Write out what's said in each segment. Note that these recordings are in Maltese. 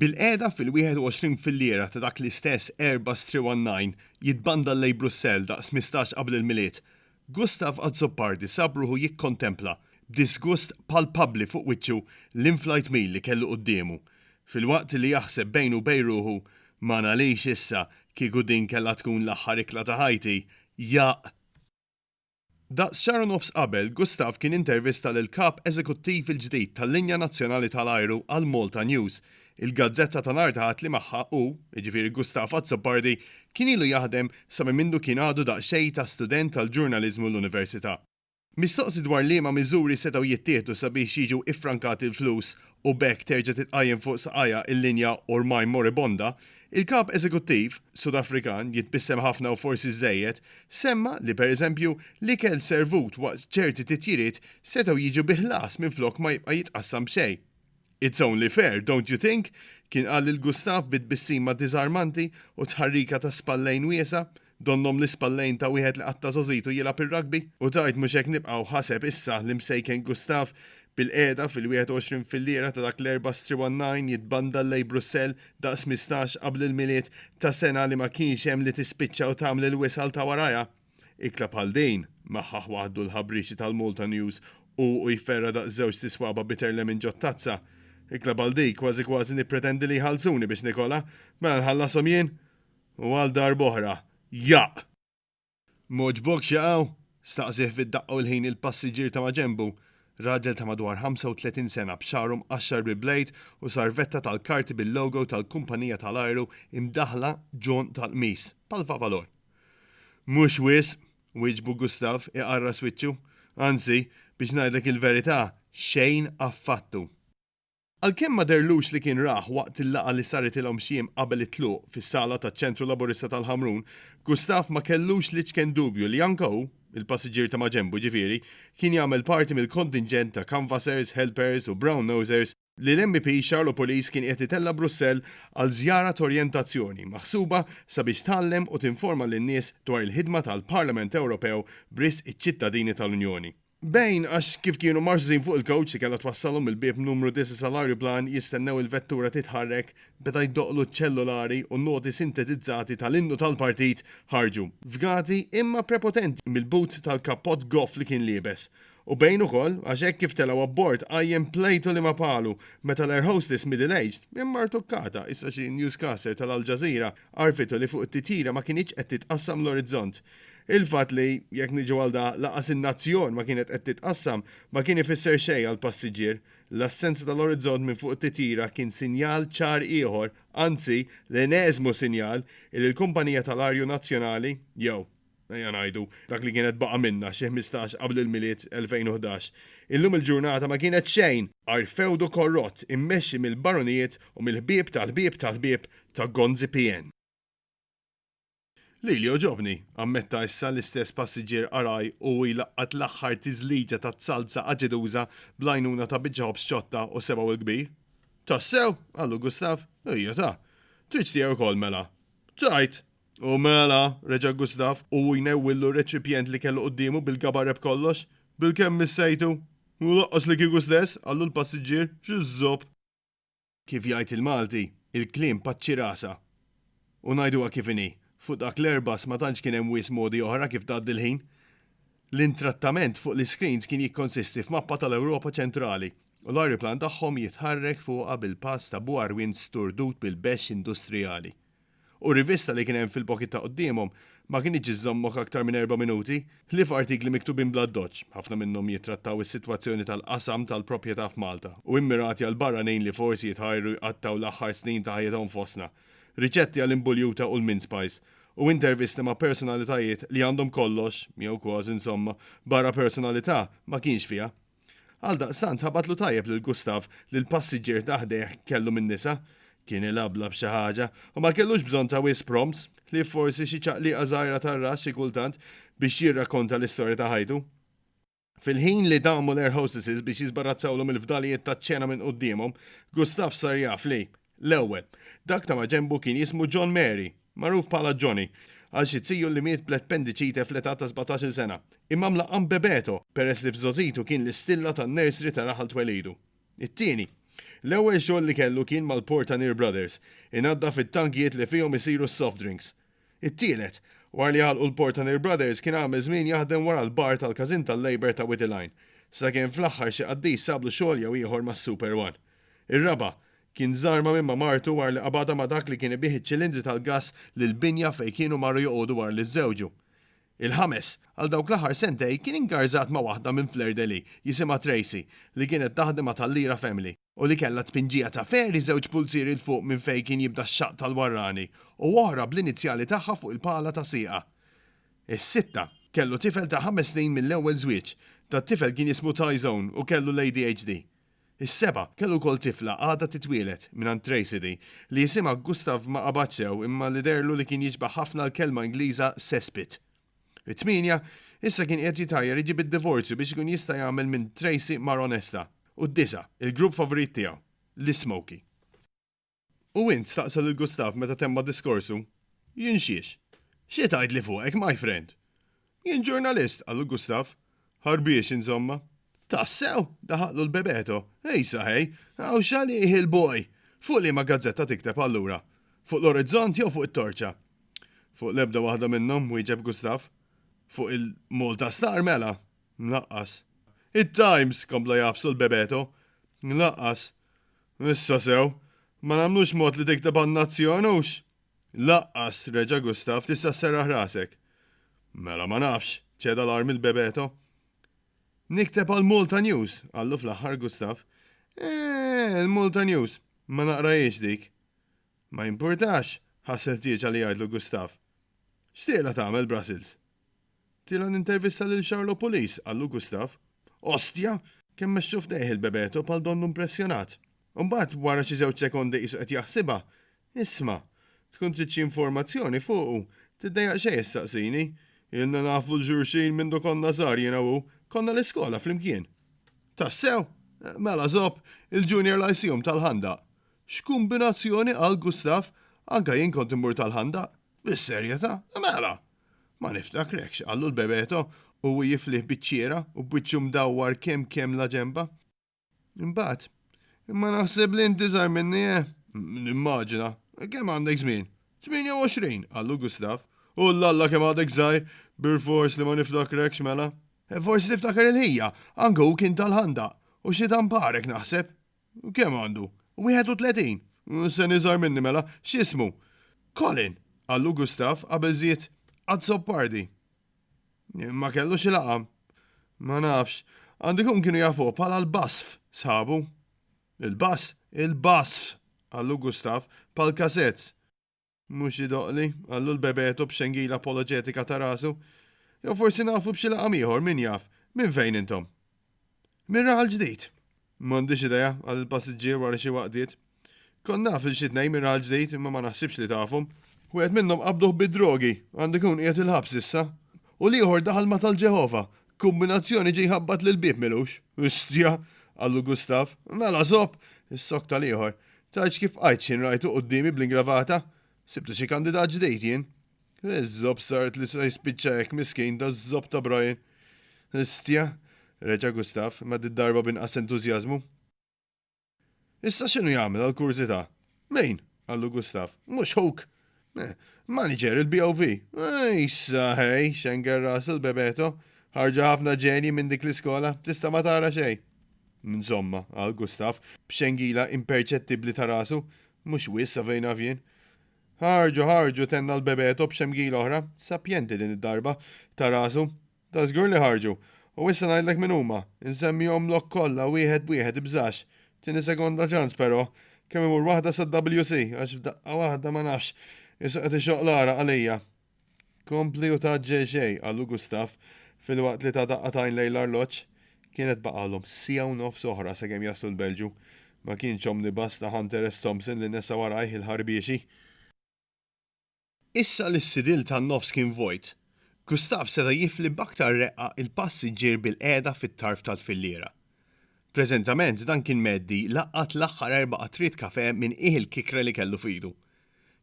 Bilqiegħda fil-21 filliera ta' dak l-istess Airbus 319 jitbandal lejn Brussell daqs tmistax qabel il-Milied, Gustave Azzopardi sab ruħu jikkontempla, b'diżgust palpabbli fuq wiċċu, l-in-flight meal li kellu quddiemu. Filwaqt li jaħseb bejnu u bejn ruħu, Ma ngħalix issa, kieku din kellha tkun l-aħħar ikla ta' ħajti, jaqq! Daqs xahar u nofs qabel, Gustaf kien intervista lill-Kap Eżekuttiv il-ġdid tal-Linja Nazzjonali tal-Ajru għal Malta News, il-gazzetta tal-art għad li magħha hu, jiġifieri Gustaf Azzopardi, kien ilu jaħdem sa minn mindu kien għadu daqsxejn ta' student tal-ġurnaliżmu l-Università. Mistoqsi dwar liema miżuri setgħu jittieħdu sabiex jiġu iffrankati l-flus u b'hekk terġa' titqajjem fuq saqajha il-linja ormaj moribonda, il-Kap Eżekuttiv Sudafrikan, jitbissem ħafna u forsi żżejjed, semma li pereżempju l-ikel servut waqt ċerti titjiriet setgħu jiġu bi ħlas minflok ma jibqa' jitqassam b'xejn. It's only fair, don't you think? kien qal lil Gustaf bi tbissima diżarmanti u tħarrika ta' spallejn wiesgħa. Donnhom l-ispallejn ta' wieħed li qatta' żagħżitu jilgħab ir-rugby u tgħid mhux hekk nibqgħu, ħaseb issa l-Imsejken Gustav. Bilqiegħda fil-21 fil-lira ta' dak l-Erbgħa Striwannajn jitbandal lejn Brussell daqs mistax qabel il-Milied ta' sena li ma kienx hemm li tispiċċa u tagħmel il-wisal ta' warajha. Ikla bħal din, maħħaħ waħdu l-ħabrixi tal-Malta News hu u jferra' daqs żewġt iswaba' bitter lemon ġot-tazza. Ikla bħal dik kważi kważi nippretendi li jħallsuni biex nikolha. Mela nħallashom jien? U għal darb'oħra, Jaqq! M'għoġbokx jaqaw? staqsieh fid-daqqa u l-ħin il-passiġġier ta' maġenbu, raġel ta' madwar 35 sena b'xagħru mqaxxar bi blejd u sarvetta tal-karti bil-logo tal-kumpanija tal-ajru imdaħħla ġonq tal-qmis, bħal favalor. Mhux wisq, wieġbu Gustav, iqarras wiċċu. Anzi, biex ngħidlek il-verità, xejn affattu. Għalkemm ma dehrlux li kien rah waqt il-laqgħa li saret ilhom xi jiem qabel it-tluq fis-sala taċ-Ċentru Laburista tal-Ħamrun, Gustaf ma kellux l-iċken dubju li anke hu, il-passiġġier ta' maġenbu ġifieri, kien jagħmel parti mill-kontinġent ta' canvassers, helpers u brown nosers li l-MEP Charlo Pulis kien qiegħed itella' Brussell għal żjara t'orjentazzjoni maħsuba sabiex tgħallem u tinforma lin-nies dwar il-ħidma tal-Parlament Ewropew b'risq iċ-ċittadini tal-Unjoni. Bejn għax kif kienu marżżin fuq il-kowċ li kellha twassalhom mill-bieb numru disa' sal-ajruplan jistennew il-vettura titħarrek, beda jdoqqlu ċ-ċellulari u n-noti sintetizzati tal-innu tal-partit ħarġu, fgati imma prepotenti, mill-but tal-kappott goff li kien liebes. U bejn ukoll għax hekk kif telgħu abbord qajjem plejtu li ma palu meta l-air hostess middle aged, imma rtukkata, issa xi newscaster tal-Al Jazeera, għarrfitu li fuq it-titjira ma kinitx qed titqassam l-orizzont. Il-fatt li, jekk niġu għal da, lanqas in-nazzjon ma kienet qed titqassam, ma kien ifisser xejn għall-passiġġier. L-assenza tal-orizzont minn fuq it-titjira kien sinjal ċar ieħor, anzi, l-eneżmu sinjal, illi l-kumpanija tal-arju nazzjonali, jew, ejja ngħidu, dak li kienet baqa' minnha, xi ħmistax qabel il-Milied 2011, illum il-ġurnata ma kienet xejn għajr fewdu korrott immexxi mill-baronijiet u mill-ħbieb tal-ħbieb tal-ħbieb ta' Gonzi PN. Lili għoġobni, ammetta issa l-istess passiġġier qaraj u jlaqqat l-aħħar tiżliġa taz-zalza aġeduża bl-għajnuna ta' biċċa ħobż ċotta u sebgħu l-kbir. Tassew? qallu Gustav. Ejja ta. Tridx tiegħi wkoll mela? Tajt! U mela! reġa' Gustav u hu jnewwillu r-reċipjent li kellu quddiemu bil-gabareb kollox. Bilkemm missejtu? U lanqas li kieku stess, qallu l-passiġġier. Xi żopp! Kif jgħid il-Malti, il-kliem paċċi rasha. U ngħiduha kif inhi, fuq dak l-Airbus ma tantx kien hemm wisq modi oħra kif tgħaddi l-ħin. L-intrattament fuq l-iscreens kien jikkonsisti f'mappa tal-Ewropa Ċentrali u l-ajruplan tagħhom jitħarrek fuqha bil-pass ta' buarwin sturdut bil-bexx industrijali. u r-rivista li kien hemm fil-pokit ta' quddiemhom ma kinitx iżżommok aktar minn erba' minuti, ħlief artikli miktubin bl-addoċċ, ħafna minnhom jittrattaw is-sitwazzjoni tal-qasam tal-proprjetà f'Malta u immirati għal barranin li forsi jitħajru jqattgħu l-aħħar snin ta' ħajjithom fostna, riċetti għal inbuljuta u l-mince pies, u intervisti ma' personalitajiet li għandhom kollox, jew kważi insomma, barra personalità, ma kienx fiha. Għaldaqstant ħabatlu tajjeb lil Gustav li l-passiġġier ta' ħdejh kellu min-nisa, kien ilabla b'xi ħaġa, u ma kellux bżonn ta' wisq prompts, ħlief forsi xi ċaqliqa żgħira tar-ras xi kultant, biex jirrakkonta l-istorja ta' ħajtu. Fil-ħin li damu l-air hostesses biex jiżbarazzawlhom il-fdalijiet taċ-ċena minn quddiemhom, Gustav sar jaf li, L-ewwel, dak ta' maġenbu kien jismu John Mary, magħruf bħala Johnny, għal xi ziju li miet bl-appendiċite fl-età ta' sbatax-il sena, imma mlaqqam Bebeto peress li f'żgħożitu kien l-istilla tan-nursery ta' raħal twelidu. It-tieni, l-ewwel xogħol li kellu kien mal-Portanir Brothers, inaddaf it-tankijiet li fihom isiru s-soft drinks. It-tielet, wara li għalqu l-Portanir Brothers kien għamel żmien jaħdem wara l-bar tal-każin tal-Labour ta' Wied il-Għajn, sakemm fl-aħħar xi qaddis sablu xogħol jew ieħor mas-Super One. Ir-raba' kien żarma minn ma' martu wara li qabadha ma' dak li kien ibigħ iċ-ċilindri tal-gass lill-binja fejn kienu marru joqogħdu wara li żżewġu. Il-ħames, għal dawk l-aħħar sentejn kien ingarżat ma' waħda minn Fleur-de-Lis, jisimha Tracy, li kienet taħdem għad Hallira Family, u li kellha tpinġija ta' ferri żewġ pulzieri 'l fuq minn fejn kien jibda x-xaqq tal-warrani u oħra bl-inizjali tagħha fuq il-pala ta' sieqha. Is-sitta, kellu tifel ta' ħames snin mill-ewwel żwieġ, dat-tifel kien jismu Tyzone u kellu l-ADHD. Is-seba' kellu wkoll tifla għadha titwieled, mingħand Tracey di, li jisimha Gustav ma qabadx sew imma li deherlu li kien jiġbah ħafna l-kelma Ingliża cesspit. It-tmienja, issa kien qiegħed jitgħajjar iġib id-divorzju biex ikun jista' jagħmel minn Tracey mara onesta. U d-disa', il-grupp favorit tiegħu, l-ismoky. U int? staqsa lil Gustav meta temma diskorsu. Jien xiex? Xi tgħidli fuqek, my friend? Jien ġurnalist, qallu Gustav. Ħarbiex, inzomma. Tassew? daħaqlu l-Bebeto. Ej saħej, hawn xagħlieh il-boy! Fuq liema gazzetta tikteb allura? Fuq l-Orizzont jew fuq it-Torċa? Fuq l-ebda waħda minnhom, wieġeb Gustav. Fuq il-Malta Star mela? Lanqas. It-Times, kompla jagħfsu l-Bebeto. Lanqas. Issa sew, ma nagħmlux mod li tikteb għan-nazzjon, hux? Laqqas, reġa' Gustav, tista' sserraħ rasek. Mela ma nafx, ċeda l-arm il-Bebeto. Nikteb għall-Malta News, qallu fl-aħħar Gustav. Eeh, il-Malta News, ma naqrahiex dik. Ma jimpurtax, ħass il-ħtieġa li jgħidlu Gustav. X'tieqla tagħmel Brussels? Tila nintervista lil Charlo Pulis, qallu Gustav. Ostja! Kemm mexxu f'dejh il-bebeto bħal donnu mpressjonat. Imbagħad, wara xi żewġ sekondi qisu qed jaħsibha, Isma', tkun trid xi informazzjoni fuqu, tiddejjaq xejn issaqsini. Ilna nafu 'l xulxin mindu konna żgħar jiena u hu, konna l-iskola flimkien. Tassew? Mela żopp, il-Junior Lyceum tal-Ħandaq. X'kumbinazzjoni, qal Gustav. Anke jien kont immur tal-Ħandaq. Bis-serjetà? Mela! Ma niftakrekx, qallu l-Bebeto u hu jiflih biċ-ċiera u b'wiċċu mdawwar kemm kemm la ġenba. Imbagħad, Imma naħseb li inti żgħar minni, eh? Nimmaġina. Kemm għandek żmien? Tmienja u għoxrin, qallu Gustav. Ullalla kemm għadek żgħir! Bilfors li ma niftakrekx, mela. Forsi tiftakar il-ħija, anke hu kien tal-ħandaq, u xi tamparek, naħseb. Kemm għandu? Wieħed u tletin? Sen iżgħar minni mela. X'ismu? Colin! qallu Gustav qabel żied, Azzopardi. Ma kellux il-għaqam? Ma nafx. Għandu jkun kienu jafuh bħala l-Basf, sħabu. Il-Bas? Il-Basf! qallu Gustav, bħal Cassettes. Mhux idoqqli, qallu l-bebeto b'xengila apoloġetika ta' rasu. Jew forsi nafu b'xi laqam ieħor, min jaf. Minn fejn intom? Mir-raħal ġdid. M'għandix idea, qal il-passiġġier wara xi waqtiet. Kont naf lil xi tnejn mir-raħal ġdid, imma ma naħsibx li tafhom. Wieħed minnhom qabduh bid-drogi, għandu jkun qiegħed il-ħabs issa. U l-ieħor daħal ma' tal-Ġeħova, Kumbinazzjoni ġie jħabbat l-bieb milux. Ustja! qallu Gustav. Mela żopp! issokta l-ieħor. Tgħidx kif bqajt x'ħin rajtu quddiemi bl-ingravata? Sibtu xi kandidat ġdid jien? Iż-żopp saret li se jispiċċa hekk miskin daż-żopp ta' Brian. Ustja! reġa' Gustav, imma did-darba b'inqas entużjażmu. Issa x'inhu jagħmel għal kurżità? Min? qallu Gustav. Mhux huk! Eh, manager il-BOV. Eh, issa hej, xenger rasu l-bebeto. Ħarġa ħafna ġenji minn dik l-iskola, tista' ma tara xejn. Insomma, għal Gustav, b'xengila imperċettibli ta' rasu, mhux wis avejna vjen. Ħarġu, ħarġu, tenna l-bebeto b'xemgila oħra, sapjenti din id-darba, ta' rasu, Ta' żgur li ħarġu. U issa ngħidlek min huma. Insemmihomlok kollha wieħed b'wieħed, ibżax. Tieni sekonda ċans però. Kemm imur waħda sad-WC, għax f'daqqa waħda ma nafx. Issa qed ixoqq l-għaraq għalija. Kompli u tgħaġġel xejn, qalu Gustav, filwaqt li ta daqqa t'għajn lejn l-arloġġ. Kienet baqgħalhom siegħa u nofs oħra sakemm jaslu l-Belġju. Ma kienx omnibus ta' Hunter S. Thompson li nesa warajh il-ħarbiexi. Issa li s-sidil tan-nofs kien vojt, Gustav seta' jifli b'aktar reqqa l-passiġġier bilqiegħda fit-tarf tal-filliera. Preżentament dan kien mgħeddi laqgħat l-aħħar erba' qatriet kafè minn qiegħ il-kikre li kellu f'idu.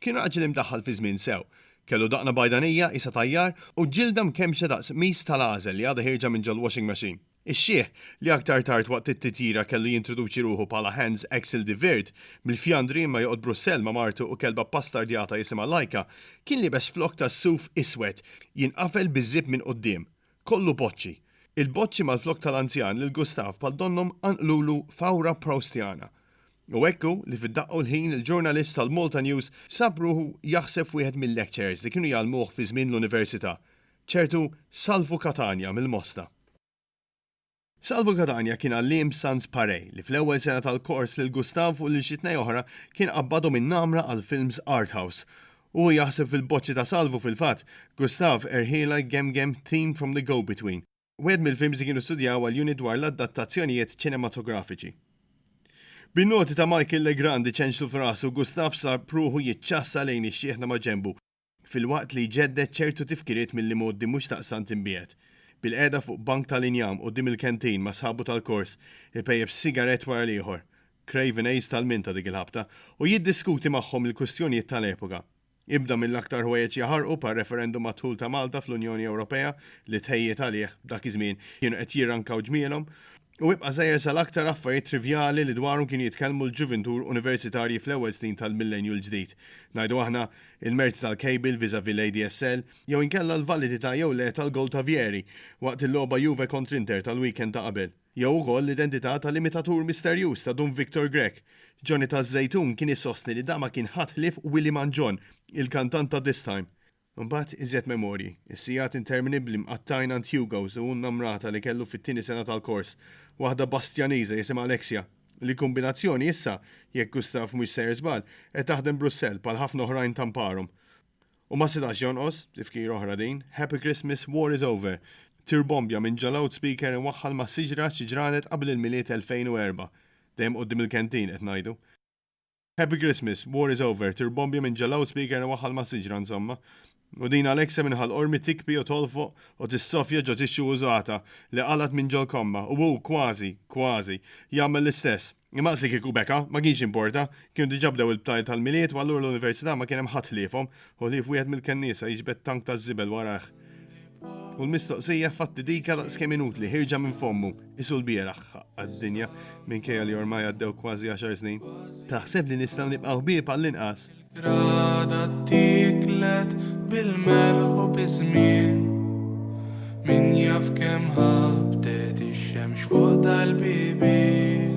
Kien raġel imdaħħal fiż-żmien sew. Kellu daqna bajdanija qisha tajjar u ġilda mkemmxa daqs qmis tal-għażel li għadha ħierġa minn ġol-washing machine. Ix-xiħ, li aktar tard waqt it-titjira kellu jintroduċi ruħu bħala Hans Axel de Weert, mill-Fjandri imma joqgħod Brussell ma' martu u kelba bbastardjata jisimha Laika, kien liebes flok tas-suf iswed, jinqafel biż-żip minn quddiem. Kollu boċċi. Il-boċċi mal-flok tal-anzjan lil Gustav bħal donnhom qanqlulu fawra Proustiana. U hekk hu li fid-daqqa u l-ħin il-ġurnalist tal-Malta News sab ruħu jaħseb f'wieħed mil-lectures li kienu jgħallmuh fi żmien l-università. ċertu Salvu Catania mill-Mosta. Salvu Catania kien għalliem Sans Pareil li fl-ewwel sena tal-kors lil Gustav u lil xi tnej oħra kien qabbadhom in-namra għall-films art house. Hu jaħseb fil-boċċi ta' Salvu fil-fatt, Gustav, Erħiela, Gem Gem, Theme from the Go Between. Wieħed mill-films li kienu studjaw għall-unit dwar l-addattazzjonijiet ċinematografiċi. Bin-noti ta' Michael Legrand iċenċlu f'rasu, Gustav sab ruħu jiċċassa lejn ix-xiħna maġenbu, filwaqt li jġedded ċertu tifkiriet mill-imgħoddi mhux daqstant imbiegħed. Bilqiegħda fuq bank tal-injam quddiem il-canteen ma' sħabu tal-kors, ipejjep sigarett wara l-ieħor, Craven Hayes tal-minta dik il-ħabta, u jiddiskuti magħhom il-kwistjonijiet tal-epoka. Ibda mill-aktar ħwejjeġ jaħarqu bħar-referendum għad-dħul ta' Malta fl-Unjoni Ewropea li t-tħejjijiet għalih, dak iż-żmien, kienu qed jirrankaw ġmielhom, U ibqa' żgħir sal-aktar affarijiet trivjali li dwarhom kienu jitkellmu l-ġuvintur universitarji fl-ewwel snin tal-Millennju l-Ġdid, ngħidu aħna, il-merti tal-kejbil vis-à-vis l-ADSL, jew inkella l-validità jew le tal-gowl ta' Vieri waqt il-logħba Juve kontr Inter tal-weekend ta' qabel, jew ukoll l-identità tal-imitatur misterjuż ta' Dun Victor Grech. Johnny taż-Żejtun kien isostni li dan ma kien ħadd ħlief Willy Mangion, il-kantant ta' This Time. Imbagħad iżjed memorji, is-sigħat interminibbli mqattgħin għand Hugo's u n-namrata li kellu fit-tieni sena tal-kors, waħda Bastjaniża jisimha Alexia, li kumbinazzjoni issa, jekk Gustav mhux sejjer żball, qed taħdem Brussell bħal ħafna oħrajn ta' mparhom. U ma setax jonqos, tifkira oħra din, Happy Christmas, War is Over! tirbombja minn ġo loudspeaker imwaħħal ma' siġra xi ġranet qabel il-Milied 2004. Dejjem quddiem il-canteen, qed ngħidu. Happy Christmas, war is over, tir bombja minn ġo loudspeaker iwaħħal ma' siġra insomma. U din Alexa minn Ħal Qormi tikbi u tolfoq u tissofja ġo tixxu użata li qalgħet minn ġo l-komma u hu kważi, kważi, jagħmel l-istess. Imma qasdi kieku beka, ma kienx jimporta, kienu diġà bdew il-btajjel tal-Milied u allura l-Università ma kien hemm ħadd ħliefhom, u ħlief wieħed mill-kenniesa jiġbed tank taż-żibel warajh. U l-mistoqsija fatti dika daqs kemm inutli ħirġa minn fommu isu l-bieraħ għad-dinja minn kejja li ormai għaddew kważi 10 snin. Taħseb li nistgħu nibqgħu ħbieb għall-inqas. Rada tiklet bil-melħu biżmien. Min jaf kemm ħabtet ix-xemx fuq dal-bibien.